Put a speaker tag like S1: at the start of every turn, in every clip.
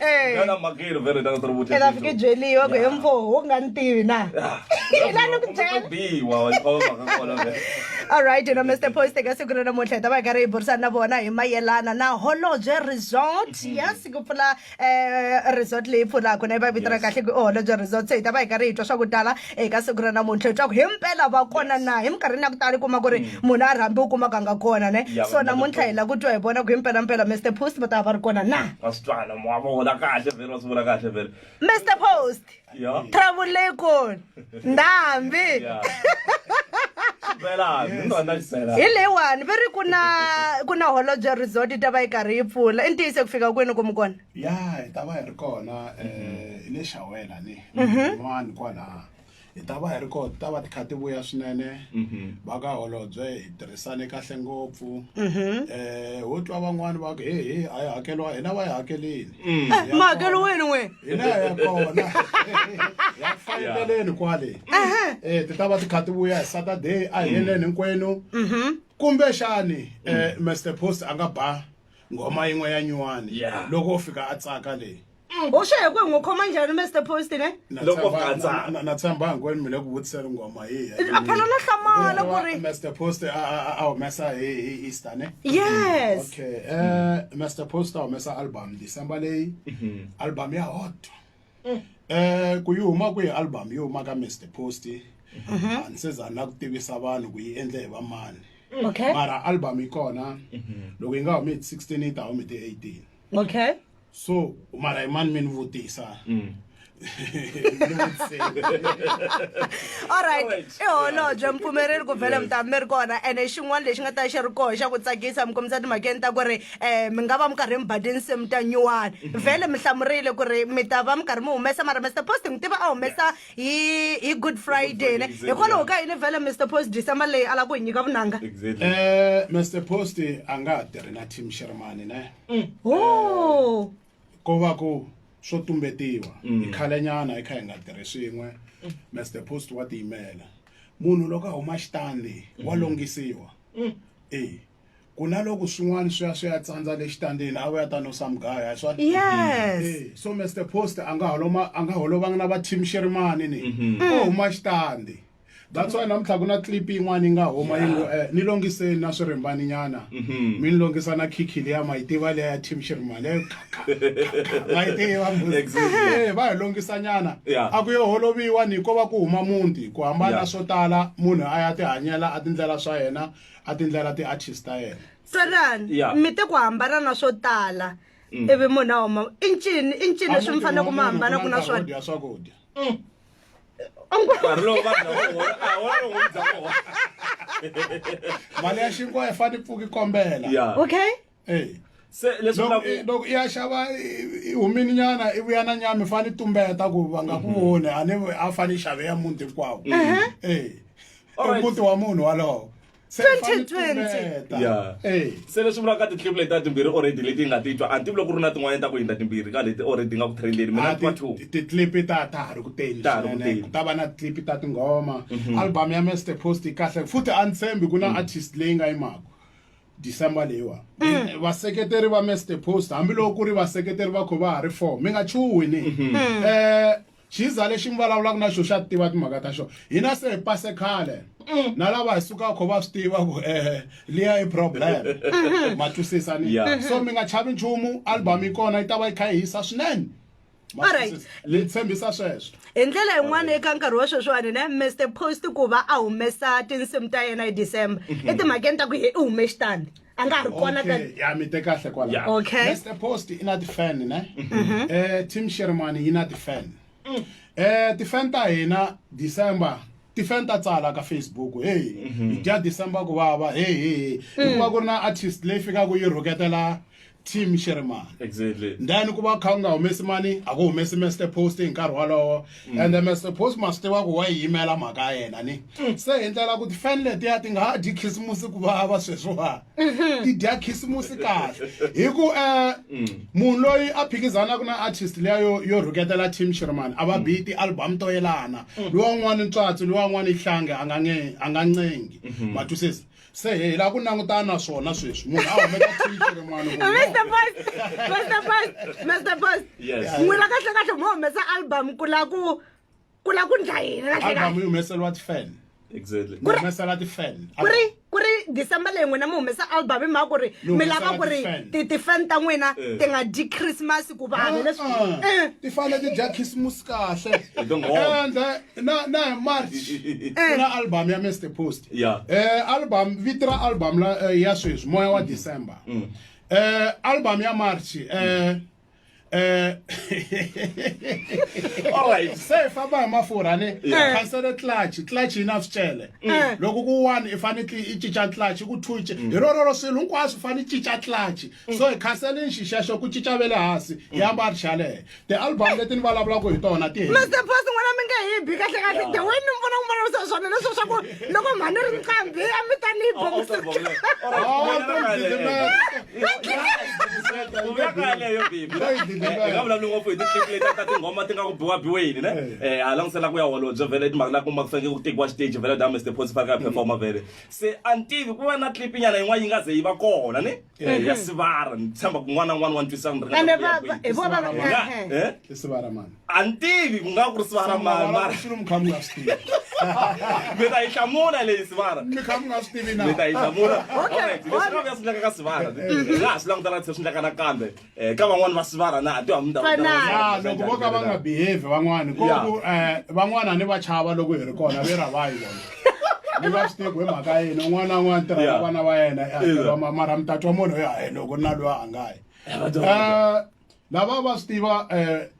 S1: Eh. Ngana makiri vele tanga tiri vutlhela. Ela fike jeli yo
S2: go emfo ho nga ntivi na. Ila no kujela. Bi wa wa ko ka kola
S1: vele. All right, you know
S2: Mr. Post ka siku na namuntlha ta va ka ri burisa na vona hi mayelana na Holobye Resort. Mm-hmm. Yes, ku pfula eh resort leyi pfulaka na yi va vitana kahle ku Holobye Resort. Se hi ta va hi ka ri hi twa swa ku tala eka siku ra namuntlha leswaku hi mpela va kona na hi minkarhini ya ku tala kuma ku ri mm. munhu a rhambi u kumaka nga kona ne so namuntlha hi la ku twa hi vona ku hi mpelampela mr post va ta va ri kona na
S1: mr post
S2: trouble
S1: leyi kona
S2: ndhambi
S1: hi leyiwani va ri
S2: ku na ku na holobye resort yi ta va yi karhi yi pfula i ntiyiso ku fika kwini ku mi kona ya hi ta va hi ri
S3: kona um hi le xawela ni mhm. van'wani kwalaha hi ta va hi ri kona ti ta va ti kha ti vuya swinene mhm. va ka holobye hi tirhisane kahle ngopfu um mhm. eh, ho twa van'wani va ku he he a yi hakeriwa hina va yi hakelini mm. eh, ma hakelo wena
S2: n'we hina ya kona
S3: ya faneleleni kwale um ti ta va ti kha ti vuya hi saturday a heleni hinkwenu kumbexani um mr post a nga ba nghoma yin'we ya nyuwani Yeah. loko u fika a tsaka leyi u xe hi ku hi n'wi
S2: khoma njhani mr post ne Na Loko tshemba- ka tsaka.
S1: na- na- na tshemba hinkwenu
S3: mi le ku vutiseni nghoma yihi ya a phela no hlamala
S2: ku ri Mr. Post a a-
S3: a- a humesa hi hi Easter ne? yes Okay.
S2: Eh
S3: Mr. Post a humesa album December leyi. Album ya hot. eh. eh ku yi huma kwihi album yi huma ka mr post mhm. a ni se za na ku tivisa vanhu ku yi endle hi vamani okay. mara
S2: album yi
S3: kona mhm. loko yi nga humi hi ti 16 yi ta humi ti 18 okay so mara hi mani mi ni vutisa mm.
S2: alright i holobye mpfumeleri ku vhele mi ta mi ri kona ene xin'wana lexi nga ta xi ri koho xa ku tsakisa mi kombisa timhakeni ta ku ri eh mi nga va mi karhi mi ba tinsimu ta nyuwani mhm. vhele mi hlamurile ku ri mi ta va mi karhi mi humesa mara mr post mi tiva a humesa hi hi good friday ne hikwalaho ka yini vhele mr post december leyi a la ku hi nyika vunanga eh mr
S3: post a nga ha tirhi na team shermani ne mm. o oh.
S2: ko va
S3: ku swo tumbetiwa hi mm. khalenyana hi kha hi nga tirhi swin'we mr mm. post wa tiyimela munhu loko a huma xitandi wa longhisiwa e ku na loko swin'wana swi ya swi ya tsandza le xitandini a vuya ta no sa mugaya hi swona yes Eh, so
S2: mr post
S3: a nga holoma a nga holovanga na va team xerimani ni o huma xitandi that's why namuntlha ku na clip yin'wana yi nga huma yi ngo eh, ni longiseni na swirimbani nyana mi ni longisa na khikhi liya ma yi tiva liya ya team xerimani leyo ma yi tiva mbuzi. Exactly. Eh, va hi longisa nyana Yeah. a ku yo holoviwa ni ko va ku huma muti ku hambana Yeah. swo tala munhu a ya tihanyela a tindlela swa yena a tindlela ti artist ta yena tsalan Yeah. mi
S2: te ku hambana na swo tala ivi munhu a huma i ncini i ncini leswi mi faneleke mi hambana ku na swona swakudya
S3: swakudya
S1: nkarhi lowu vanhu lava vo- a hi wona lowu n'wi byaka wona.
S3: mali ya xinkwa yi fane pfuki kombela ya okay
S2: eyi se
S1: leswi loko vulaka i- loko i ya xava
S3: i- i humini nyana i vuya na nyama i fane i tumbeta ku va nga ku voni a ni a fane i xave ya muti hinkwawo Eh, Alright. muti wa munhu walowo se i fane i 2020. tumbeta. Yeah. Eh.
S2: se leswi vulaka titlipu
S1: leti ta timbirhi already leti yi nga ti twa a ni tivi loko ku ri na tin'wanyana ta ku hindza timbirhi ka leti already nga ku trendeni mina Ah, ni twa ti- two ti- titlipi ta ta ha
S3: ri ku teni Ta ha ri ku swinene. teni. ku ta va na titlipi ta tinghoma album ya mester post yi kahle futhi a ni tshembi ku na artist leyi nga yimaka december leyiwa mm. vaseketeri va mester post hambiloko ku ri vaseketeri va kho va ha ri four mi nga chuhi ni um mm-hmm. eh, xiza lexi mi vulavulaka na xo xa ti tiva timhaka ta xona hina se hi pase khale mm. na lava hi sukaka kho va swi tiva ku um liya i problem mm-hmm. ma twisisani so mi nga chavi nchumu album yi kona yi ta va yi kha yi hisa swinene Alright. ni tshembisa sweswo hi ndlela yin'wana
S2: eka nkarhi wa sweswiwani ne mr post ku va a humesa tinsimu ta yena hi december etimhakeni ta ku ye i hume xitandi a nga ha ri kona ka Okay, ya mi te kahle
S3: kwala Yeah. Okay. mr post
S2: i na
S3: ti-fan ne eh team shermani yi na ti-fan eh ti-fan ta hina december ti-fan ta tsala ka facebook hey hi dya december ku vava hey hey hikuva ku ri na artist leyi fikaka yi rhuketela team xi ri mani exactly then ku
S1: va kha u nga
S3: humesi mani a ku humesi master post hi nkarhi wolowo mm. and the master post ma swi tiva ku wa yi yimela mhaka ya yena ni mm. se hi ndlela ku tifani letiya ti nga ha dyi khisimusi ku vava sweswiwa mm-hmm. ti dya khisimusi kahle hi ku um mm. munhu loyi a phikizanaka na artist leya yo yo rhuketela team xi ri mani a va biyi ti-album to yelana luwan'wana ntswatsi luwan'wana ihlange a nga ncengi mm-hmm. ma twisisa se hi lava ku langutana na swona sweswi munhu a humeka twichi rin'wana Mr. Post,
S2: Mr. Post, Mr. Post. Yes. N'wina kahle
S1: kahle mo
S2: humesa album ku la ku ku la ku ndla yini kahle album kahle. yi humeseriwa ti-fan
S3: Exactly. mi
S1: humesela ti-fan
S3: Ku ri ku ri
S2: December leyi n'wina mi humesa album hi mhaka ku ri Mi mi lava humesela ku ri ti-fan. ti ti-fan ta n'wina Eh. ti nga dyi Christmas ku vanhu leswi. Ah, Eh, ti fane ti dya
S3: khisimusi kahle Hi tinghoma. ende
S1: na na hi
S3: march Eh. ku na album ya mr post yeah eh album
S1: vito
S3: ra album la eh, ya sweswi moya wa december mm. eh album ya march eh eh
S1: all right se famba hi mafurha
S3: ni cancele clutch clutch yi na swicele mm. eh. loko ku one i fanekele i cinca clutch ku two mm. hi rororo swilo hinkwaswo fanele cinca clutch so hi cancele nxixexo ku cinca ve le hansi hi yamba ri xalehe tialbum leti ni vulavulaka hi tona ti mr boss n'wana mi nge
S2: hi bi kahle kahle the way ni mi vona ku vulavurisa swona leswo swa ku loko mhani ri nqambi a mi ta ni yi boxinga
S1: vulavuli ngopfu hi ti-clip leti ta tinghoma ti nga ku biwa biweni ne um a langutisela ku ya holobye vele i timhaka la kuma ku fanekele ku tekiwa xiteji vele da mr boss fanekele a performa vele se a ni tivi ku va na clip nyana yin'wana yi nga ze yi va kona ne eh, mhm. ya sivara ni tshemba ku n'wana n'wana wa ntwisana ni ringana ku ya kwihi. Hi vona va- Nga- eh, eh.
S3: eh? i sivara mani a ni tivi ku nga
S1: ku ri sivara mani mara xilo mi kha mi nga swi tivi
S3: mi ta
S1: yi hlamula leyi sivara mi kha mi nga swi tivi na
S3: mi ta yi hlamula
S1: Okay,
S3: Alright,
S1: leswi nga swi endlaka ka sivara hi nga ha swi langutana se swi endlaka nakambe Eh, ka van'wani va sivara na ti hamu ta vona Fanaka. ta vona. ya loko vo
S3: ka va nga behave van'wani ko Yeah. ku um van'wani a ni va chava loko hi ri kona ve ra vayi vona ni va swi tivi ku hi mhaka yini un'wana na un'wana tirha na Yeah. vana va yena i hakeriwa Yeah. ma- mara mi ta twa munhu ya hi loko na loyi a nga yi Eh, va ta- Eh, lava va swi tiva um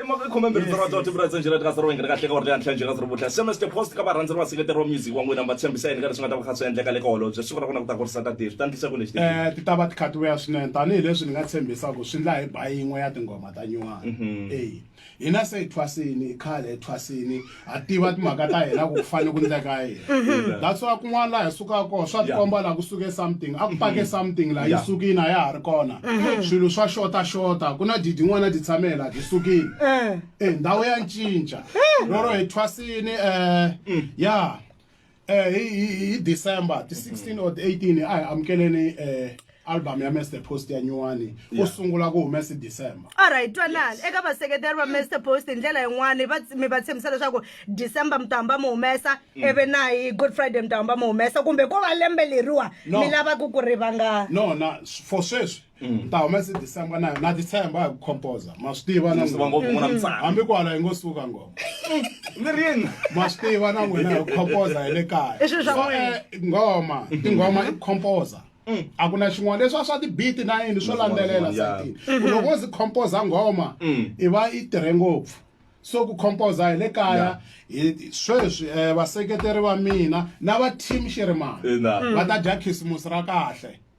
S2: emhaka yi khome mbirhi ndzi rhandza vutivi
S1: ra ndzi njhela tika sirowenge ri kahle ka orle hantlha njhela siri vutlha sms the post ka varhandzi ri vaseketeri wa music wa n'wina mi va tshembisa yini ka leswi nga ta va kha swi endleka le ka holobye siku ra kona ku ta kurisa ta dave ta ndlisa ku lexi um ti ta va ti kha ti
S3: vuya swinene tanihileswi ni nga tshembisa ku swi ndla hi ba yin'we ya tinghoma ta nyuwana e hina se hi thwasini khale hi thwasini ha tiva timhaka ta hina ku ku fanele ku ndleka yini mm-hmm. that's why kun'wana laha hi sukaka kona swa tikomba laha ku suke something a ku mm-hmm. pake something laha yi sukini a ya ha ri kona mm-hmm. swilo swa xota xota ku na didi n'wana ti tshame laha ti sukini e ndhawu ya ncinca roro hi thwasini um ya eh hi December ti 16 or 18 a hi amukeleni eh album ya Mr Post ya nyuwani u sungula ku humesa December all right twanani eka
S2: vaseketeri va Mr Post hi ndlela yin'wana va mi va tshembisa leswaku December mutamba mu humesa mm. eve na hi Good Friday mutamba mu humesa kumbe ko va lembe leriwa mi lava ku ku rivanga no na for
S3: sweswi Mm. ta humesa december na na december a hi ku composa ma swi tiva na hambi ku hala yi ngo suka ngoma lirini ma swi tiva na n'wina hi ku composa hi le kaya eh, ngoma tinghoma i composa mm. a ku na xin'wana leswi a swa tibiti na yini swo landzelela satini mm-hmm. loko wo zi composa ngoma mm. i va i tirhe ngopfu so ku composa hi le kaya sweswi um vaseketeri va mina na va team xirimani va ta dya khisimusi ra kahle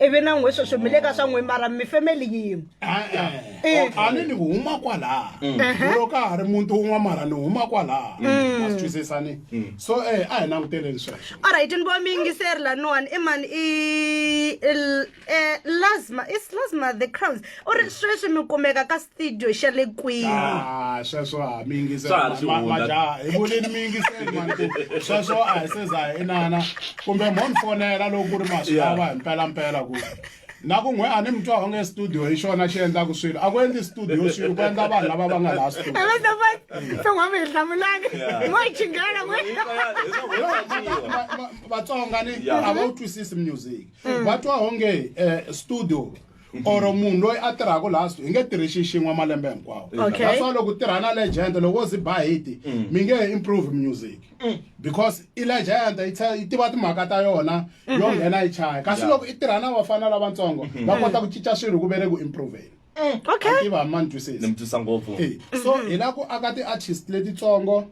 S3: ivi
S2: na n'we sweswi mi le ka swa n'we mara mi family yin'we Eh.
S3: a ni ni huma kwalaha Mhm. loko a ha ri muti wun'wa mara ni huma kwalaha Mm. ma swi twisisani so eh a hi languteleni sweswo alright ni vo mi yingiseri
S2: laniwani i mani i il- eh, lasma is lasma the crowns u ri sweswi mi kumeka ka studio xa le kwihi ah, sweswo a mi
S3: yingisemajaha hi vulini mi yingiseli mani ku sweswo a hi se za hi inana kumbe mo ni fonela loko ku ri maswi lawa hi mpelampela ku na ku n'we a ni mi twa onge studio hi xona xi endlaka swilo a ku endli studio swilo ku endla vanhu lava va nga laha studioton'wami
S2: hi hlamulani mo hi chingela
S3: vatsonga ni a va wu twisisi music va twa onge um studio or munhu loyi a tirhaka laha hi nge tirhi xi xin'we malembe hinkwawo Okay. that's why loko u tirha na legend loko wo zi ba hiti mi nge he improve music because i legend yi tshe- yi tiva timhaka ta yona yo nghena yi chaya kasi Yeah. loko i tirha na vafana lavatsongo va kota ku cinca swilo ku ve le ku improveni okay tiva ma ni twisisi mi twisa ngopfu Eh, so hi la ku aka ti-artist letitsongo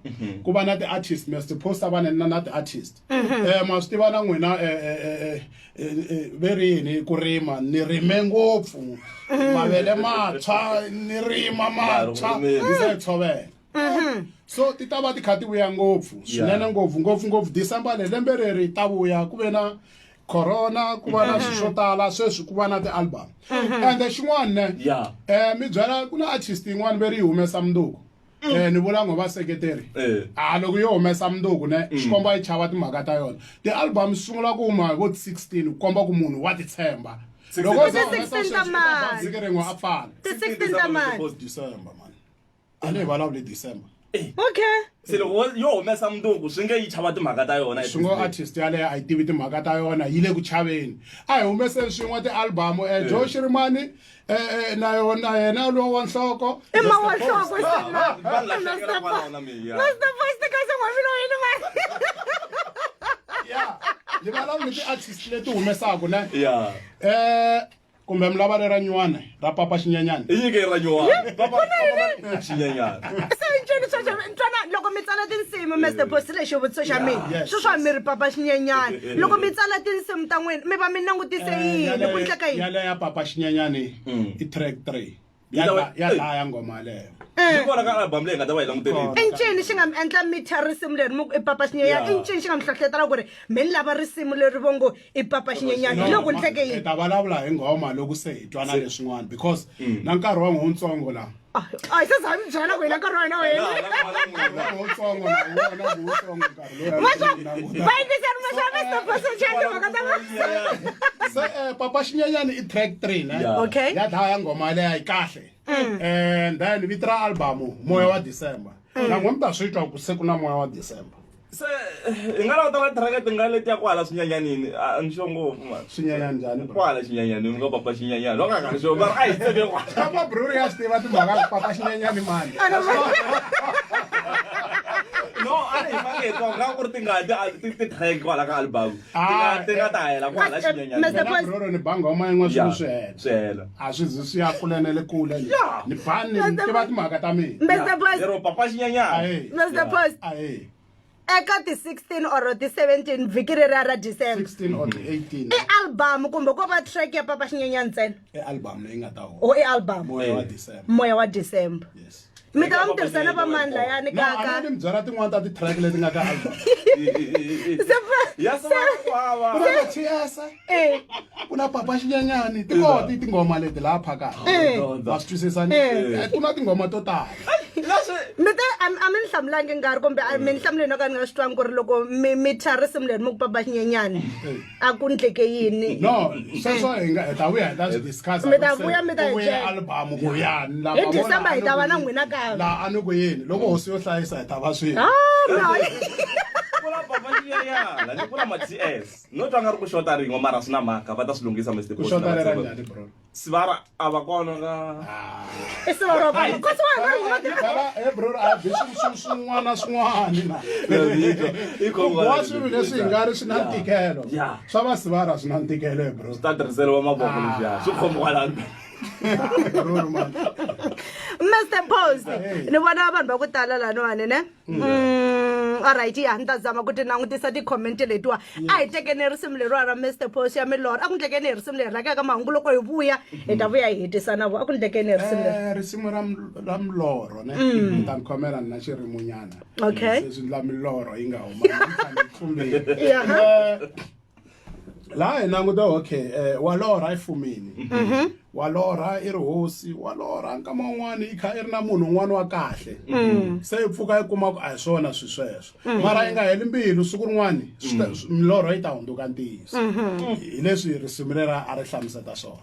S3: ku va na ti-artist mi supposa va na na ti-artist mhm. eh ma swi tiva na n'wina eh, eh, eh, ve ri yini ku rima ni rime ngopfu mhm. mavele matshwa ni rima matshwa ni se tshovela mhm. so ti ta va ti kha ti vuya ngopfu swinene ngopfu ngopfu ngopfu december le lembe reri ta vuya ku ve na corona ku va na swilo swo tala sweswi ku va na ti-album ende xin'wana ne um mi byela ku na artist yin'wana ve ri yi humesa munduku eh ni vula ngo vaseketeri eh. a ah, loko yo humesa munduku ne mm. xikombo a yi chava timhaka ta yona ti-album swi sungula ku huma hi vo 16 ku komba ku munhu wa titshemba loko za humesa sweswiike rin'we a pfala a ni hi vulavuli december eh. okay se
S1: loko yo humesa munduku swi nge yi chava timhaka ta yona swi ngo artist yaleyo
S3: a yi tivi timhaka ta yona yi le ku chaveni a hi humeseni swin'we ti-album um eh, joe xirimani Eh, eh, na yona yena lowo wa nhloko i ma wa nhloko ni valava ni ti-artist leti humesaka ne um kumbe mi lava lera nywana ra papa xinyanyana i nyike ra
S1: nywanaaxinyanyana se nceni sweswo
S2: ntwana loko mi tsala tinsimu mr bosi lexi vutiso xa mina swi swa mi ri papa xinyanyana loko mi tsala tinsimu ta n'wina mi va mi langutise eh, yini ku ndleka yini yaleyo ya papa xinyanyani
S3: hmm. i track three ya dlaya ngoma yaleyo eh. kona ka album
S1: leyi nga ta va yi languterile i ncini xi nga mi endla
S2: mi thya risimu leri i papa xinyenyana i ncini xi nga mi hlohletela ku ri mi ni lava risimu leri vo ngo i papa xinyenyana hi loko ni hleke yini ta vulavula hi nghoma
S3: loko se hi twana leswin'wana because hmm. na nkarhi wa n'wi wutsongo laha a yi se za mi
S2: byela ku hina nkarhi wa hina wu
S3: helivayingiseri
S2: masavesopasochandimhaka ta se eh, papa
S3: xinyanyani i track three ne okay ya dlaya ya nghoma leya yi kahle and eh, then vito ra albamu moya wa december mm. nan'we mi ta swi twa ku se ku na moya wa december se
S1: hi nga languta na thiraka ti nga leti ya kwala swinyanyanini a ni xo ngopfu mani swinyanya njhani bro kwala
S3: xinyanyanini u nga
S1: papa xinyanyani va nga nga ri xo va ri a hi tseke kwala kama bruri ya swi tiva
S3: timhaka ku papa xinyanyani mani
S1: no a ri hi fanele hi twa nga ku ri tingati a ti ti track kwala ka album Ah, ti nga ta hela ku hala xinyenyanabroro ni banga uma
S3: yin'we swilo swi hela swi hela a swi
S1: zi swi ya
S3: kule na le kule ni bani ni tiva timhaka ta minalero papa
S2: xinyenyana
S1: mr post
S2: eka ti-16 or ti-17 vhiki ri ra ra december
S3: i album kumbe
S2: ko va track ya papa xinyenyana ntsena i album leyi nga
S3: ta o i album moya
S2: wa december moya wa
S3: december yes
S2: mi ta va
S3: mi tirhisana
S2: va mani layani kaka ni byala
S3: tin'wana ta ti-track leti nga ka album ku na papa xinyanyani ti koho ti tinghoma leti laha phakaka ma swi twisisani ku na tinghoma to tala mi
S2: te a mi ni hlamulangi nkarhi kumbe mi ni hlamuleni o ka ni nga swi twangi ku ri loko mi mi tshwa risimu leri mi ku papa xinyanyani a ku ndleke yini no sweswo
S3: hi nga hi ta vuya hi ta swi discuss mi ta vuya mi ta
S2: vuya album ku yani
S3: la hi december hi ta va
S2: na n'wina ka la a ni ku yini loko
S3: hosi yo hlayisa hi ta va swini ah,
S1: no twa nga ri ku xota rin'we mara swi na mhaka va ta swi lunghisa mr
S3: sivara a va
S1: kona ka
S2: sivara va ko sivara eh
S3: bro a bi swin'wana swin'wana na i ku wa swilo leswi nga ri swi na ntikelo swa va sivara swi na ntikelo eh bro swi ta tirhiseriwa mavoko
S1: leswi ya swi khomi kwalani
S2: Mr. Post, ni vona vanhu va ku tala laniwani ne? Mm, alright ya ni ta zama ku ti langutisa ti-comment letiwa a hi tekeni hi risimu leriwa ra mr pos ya milorho a ku ndlekeni hi risimu leri rakaka mahungu loko hi vuya hi ta vuya hi hetisa na vo a ku ndlekeni hi risimu leri Eh, risimu ra m- ra
S3: milorho ne ni ta ni khomela ni na xirimunyana Okay. se swi ndla
S2: milorho
S3: yi nga huma Ni fanele ni tlumbile. Yaha. Eh, laha hi languta okay um wa lorha i fumini mhm. wa lorha i ri hosi wa lorha nkama wun'wana i kha i ri na munhu un'wana wa kahle mm. se i pfuka i kuma ku a hi swona swi sweswo mm. mara yi nga heli mbilu siku rin'wana mm. milorho yi ta hundzuka ntiyiso mhm. hi leswi risimu rera a ri hlamuseta swona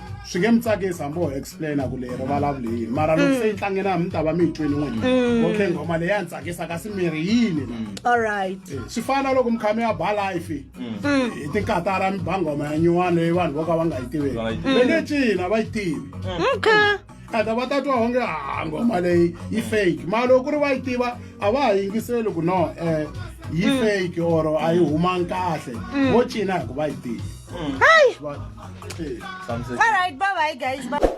S3: swi nge mi tsakisi hambi ho explaina ku leyi rivalavula yini mara loko se yi tlangela mi ta va mi yi tweni n'wini okay nghoma leyi ya ni tsakisa kasi mi ri yini na all right Eh,
S2: swi fana na loko
S3: mi kha mi ya ba life hi tinkatara mi ba nghoma ya nyuwana leyi vanhu vo ka va nga yi tiveki Va nga yi tivi. le le cina va yi tivi okay
S2: ata va ta twa
S3: onge ha nghoma leyi yi fake mara loko ku ri va yi tiva a va ha yingiseli ku no um yi mm. fake or a yi humangi kahle mm. vo cina
S2: hi ku va
S3: yi tiva
S2: mm. All right,
S3: bye bye,
S2: guys.
S3: Bye.